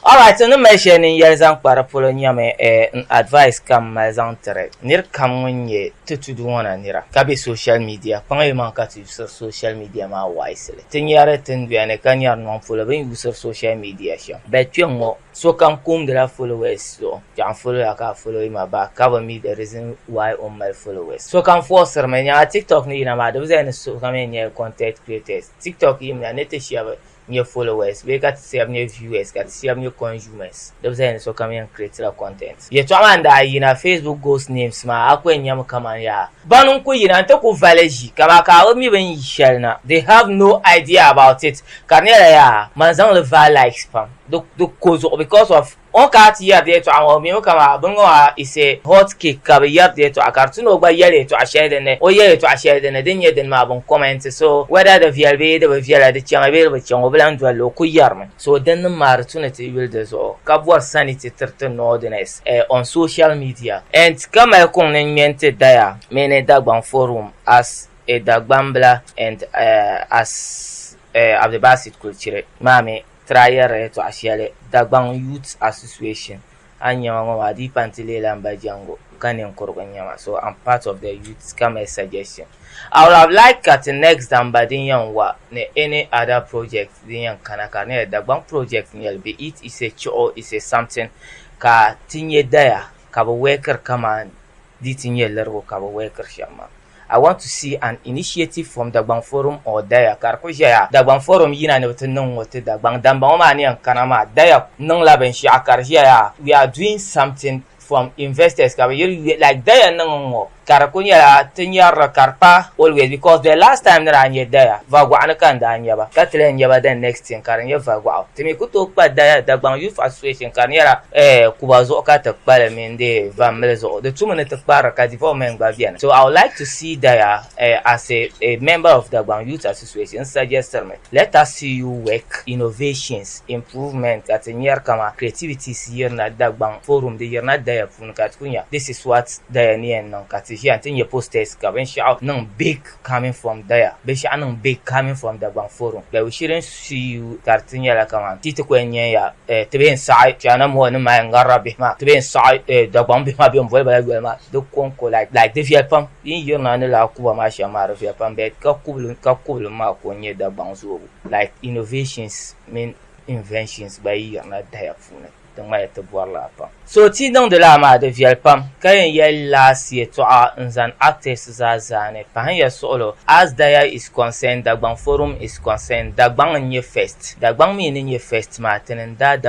Alright, ni mali shɛli ni yɛli zaŋ kpa di polo nyɛmi eh, n advice ka m mali zaŋ tiri niri kam ŋun nyɛ ti tudu ŋɔ na nira ka be social media kpaŋa yi maŋ ka ti yusiri social media maa wisely ti nyari tinduya ni ka nyari nɔŋ polo bɛ ni yusiri social media shɛm but kpɛŋŋɔ sokam kumdila followers zuɣu tɔɣu n follow ya ka a follow ma back ka bi mi the reason why o ni mali followers sokam forcirimi nyɛma tiktok ni yina maa di bi zaya ni sokam yɛn nyɛla content creators tiktok yimina ni ti shɛba nyɛ followers bee ka ti shɛba nyɛ viewers ka ti shɛba nyɛ consumers di bi zali ni sokam yɛn creatila content. Yɛltɔɣa maa n-daa yina Facebook ghost names maa a ku yɛn nyami kamani yaa bana n-ku yina nti ku vali ʒi kaman ka a bi mi bini yi shɛli na they have no idea about it ka di nyɛla yaa man zaŋ li vaai likes pam di ko zuɣu because of O ka ti yɛri yɛtɔɣa ŋɔ mi mi kaman bini ŋɔ maa is a hot cake ka bi yɛri yɛtɔɣa ka di ti ni o gba yɛli yɛtɔɣa shɛli din ni o yɛli yɛtɔɣa shɛli din ni din nyɛ dini maa bin comment so whether di viɛli bee di bi viɛla di chaŋ bee di bi chaŋ o bi lan doli li o ku yɛri mi so din ni maa di tu ni ti yuli di zuɣu ka bɔri sani ti tiri ti Northerners eh on social media and ka mali kuŋ ni ŋme n-ti Daya mini Dagbaŋ forum as a Dagbambila and eh as eh Abdulbasit Kulchiri maa mi Trayɛri ni tɔɣi shɛli Dagbaŋ Youths Association a ni nyɛma ŋɔ maa di yi pa n-ti leela m ba Jango ka ninkurigu n-nyɛma so am part of the youths ka mali suggestion I would have liked ka ti next damba din yɛn wa ni any other project din yɛn kana ka di nyɛla Dagbaŋ project n-nyɛli be it is a chuɣu is a something ka ti nyɛ daya ka be wɛkiri kaman di ti nyɛ lirigu ka be wɛkiri shɛm maa. I want to see an initiative from Dagbaŋ forum or Daya ka di ku ʒɛya Dagbaŋ forum yina ni bɛ ti niŋ ŋɔ ti Dagbaŋ damba ŋɔ maa ni yɛn kana maa Daya niŋla binshɛɣu ka di ʒɛya we are doing something from investors ka bɛ yiri yuya like Daya niŋ ŋɔ ka di ku nyɛla ti nyarili ka di pa always because the last time ni daa nya Daya Vagɔɣu ni ka n daa nya ba ka ti lahi nya ba the next thing ka di nyɛ Vagɔɣu ti mi ku tooi kpa Daya Dagbaŋ Youth Association ka di nyɛla eh Kuba zuɣu ka ti kpa li mini Di va mili zuɣu di tumi ni ti kpari ka development gba beni. So I would like to see Daya uh, as a, a member of Dagbaŋ Youth Association n suggestiri mi let us see you work innovations, improvement ka ti nyari kama creativities yirina Dagbaŋ forum di yirina Daya puuni ka ti ku nya this is what Daya ni yɛn niŋ ka ti ʒiya n ti nya posters ka binshɛɣu niŋ big Coming from Daya, binshɛɣu niŋ bɛ Coming from Dagbaŋ Forum that we shouldn't sue you kari ti nyɛla kamani ti ti kɔya nyɛ ya eh, ti bee n-saɣi China mɔɣu ni Maya ŋarira bihi maa, ti bee n-saɣi eh, Dagbaŋ bihi maa bɛn boli ba la yoli maa di kɔŋko like like di viɛli pam yi ni yirina ni lala kuba maa shɛm maa di viɛli pam but ka kubili ka kubilim maa ko n-nyɛ Dagbaŋ zoobu like innovations mini inventions gba yi yirina Daya puuni. Di ŋmaya ti bɔri la pam. So ti niŋdi laa maa di viɛli pam ka yɛn yɛli last yɛtɔɣa n zani artists zaa zaani pahin ya suɣulo as daya is concerned Dagbaŋ forum is concerned Dagbaŋ n nyɛ first Dagbaŋ mi ni nyɛ first maa tini n daadama